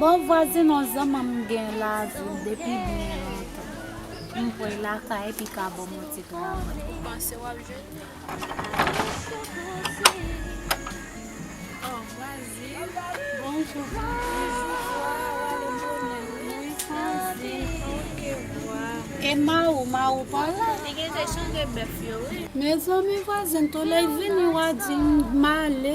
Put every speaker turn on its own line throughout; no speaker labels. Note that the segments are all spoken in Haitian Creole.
Bon vwazin on
zanmanm m gen la avil depi byen lontan m voy lakay epi ka banm on ti travay.
Mezanmi vwazin
tou lèy vini wa dil m male.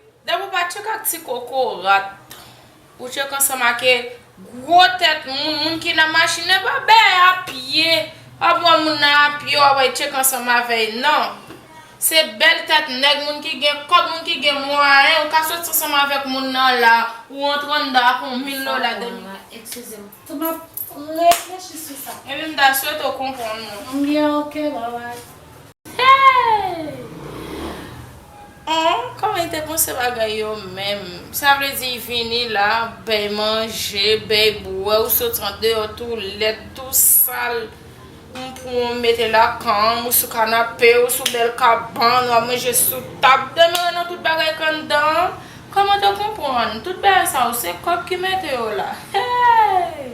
Depi w pa tchek ak ti koko rat ou tchek ansanm ake gwo tèt moun, moun ki nan machin nan pa bè a pye, wap wè moun nan a pye wap wè tchek ansanm avè y nan. Se bèl tèt nèg moun ki gen kòb moun ki gen mwayen ou ka soti ansanm avèk moun nan la ou antre anndan ak yon mil dola de mil dola. Eskize m tou
map reflechi sou sa. Epi m ta swete w
konprann mwen. M
byen ok bye bye.
Hey! Ohh kòman li te panse bagay yo menm? Sa vle di y vini la, bèy manje, bèy bwè, ou soti andeyò tou lèd, tou sal, m pran w m mete l nan kan m, ou sou kanape, ou sou bèl kabann, w ap manje sou tab, demeure nan tout bagay k anndan an, kòman te konprann? Tout bagay sa yo se kòb ki mete yo la. Hey!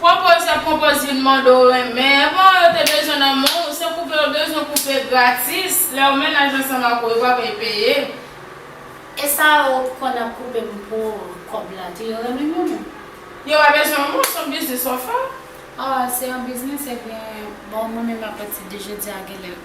Konpoze konpoze youn mòd ou renmen evan yo te bezwen nan men w se koupe yo bezwen koupe gratis lè ou mennaj ansanm ak ou yo pa vle peye. E
sa yo konn ap koupe m pou kòb la tou yo renmen m yo menm. Yo pa bezwen
w non son biznis wap fè. Ahh se yon
biznis ebyen bon mwen menm apati de jodi a genlè.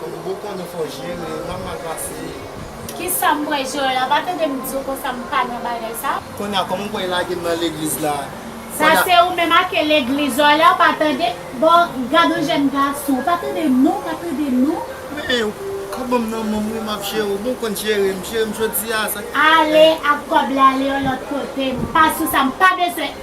Kom
ou konnen fò jere ou mal pase. Kisa m
wè Joel a pa tande m
diw
konsa
m pa
nan bagay sa.
Konnya
koman ou wè lage
m
nan legliz la. Sa se ou menm ake legliz Joel a ou pa tande. Bon gad yon jèn gason ou pa tande non ou pa tande non. Men ou
ka banm nanmom wi map jere w bon ou konn jere m jere m jodia sa. Ale ak kob
la ale yon lot kote m pa sou sa m pa bezwen.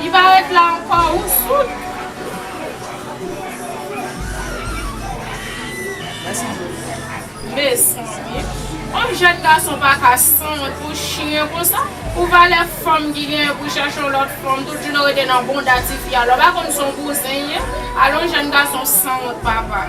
Li pa
ret la anko ou soud. Mesanmi Yon jèn gason paka sanwont pou chyen konsa pou valè fanm ki genyen pou chèche yon lòt fanm tout jounen w rete nan bonda tifi a lè w pa konn son bouzen ye ale yon jèn gason sanwont papa.